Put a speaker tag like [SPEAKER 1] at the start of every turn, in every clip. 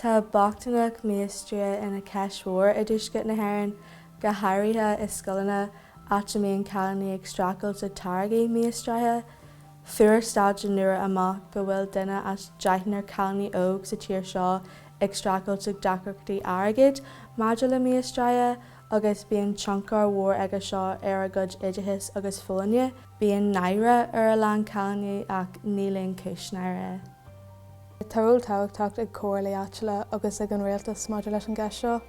[SPEAKER 1] Tá bochtaineacht míostraithe ina ceist mhór i dtuaisceart na hÉireann, go háirithe i scoileanna, áit a mbíonn cailíní ag streachailt le táirgí míostraithe. Fuair staidéar nua amach go bhfuil duine as deichniúr cailíní óg sa tír seo ag streachailt ag deacrachtaí airgid maidir le míostrú agus bíonn tionchar mhór aige seo ar a gcuid oideachais agus folláine. Bíonn náire ar a lán cailíní ach níl aon chúis náire.
[SPEAKER 2] Tá ról tábhachtach ag comhairlí áitiúla agus ag an rialtas maidir leis an gceist seo,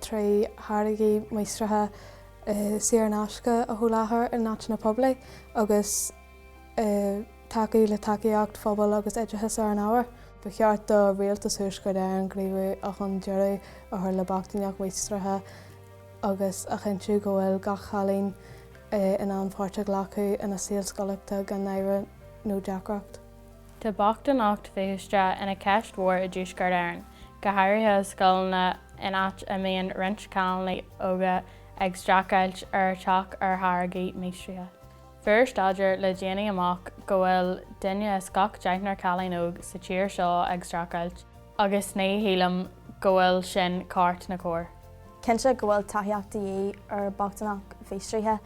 [SPEAKER 2] trí tháirgí míostraithe, saor in aisce a sholáthar in áiteanna poiblí agus tacú le tacaíocht phobail agus oideachas ar an ábhar. Ba cheart do Rialtas Thuaisceart Éireann gníomhú chun deireadh a chur le bochtaineacht mhíostraithe agus a chinntiú go bhfuil gach cailín in ann páirt a ghlacadh ina saol scolaíochta gan náire nó deacracht.
[SPEAKER 3] Tá bochtaineacht mhíostraithe ina cheist mhór i dTuaisceart Éireann, go háirithe i scoileanna in áit a mbíonn roinnt cailíní óga ag streachailt ag teacht ar tháirgí míostraithe. Fuair staidéar le déanaí amach go bhfuil duine as gach deichniúr cailín óg sa tír seo ag streachailt agus ní shílim go bhfuil sin ceart ná cóir. Cinnte go bhfuil
[SPEAKER 4] tacaíocht de dhíth ar bochtaineacht Mhíostraithe.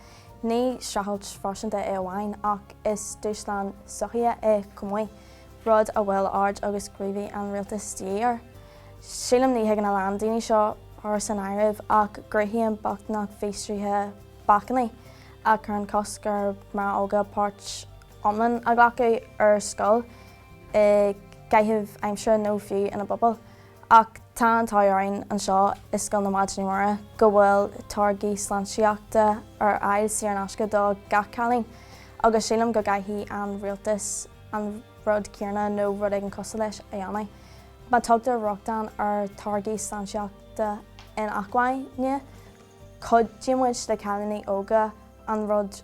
[SPEAKER 4] Ní streachailt phearsanta í amháin, ach is dúshlán sochaíoch í chomh maith, rud a bhfuil aird agus gníomh an rialtais de dhíth air. Sílim ní thuigeann a lán daoine seo, fir san áireamh, ach go gcruthaíonn bochtaineacht mhíostraithe bacainní a chuireann cosc ar mná óga páirt iomlán a ghlacadh ar scoil, i gcaitheamh aimsire nó fiú ina bpobail. Ach tá an t-ádh orainn anseo i Scoil na Maighdine Muire go bhfuil táirgí sláintíochta ar fháil saor in aisce do gach cailín agus sílim go gcaithfidh an rialtas an rud céanna nó rud éigin cosúil leis a dhéanamh. Má dtugtar rochtain ar tháirgí sláintíochta inacmhainne, cuideoidh muid le cailíní óga an rud.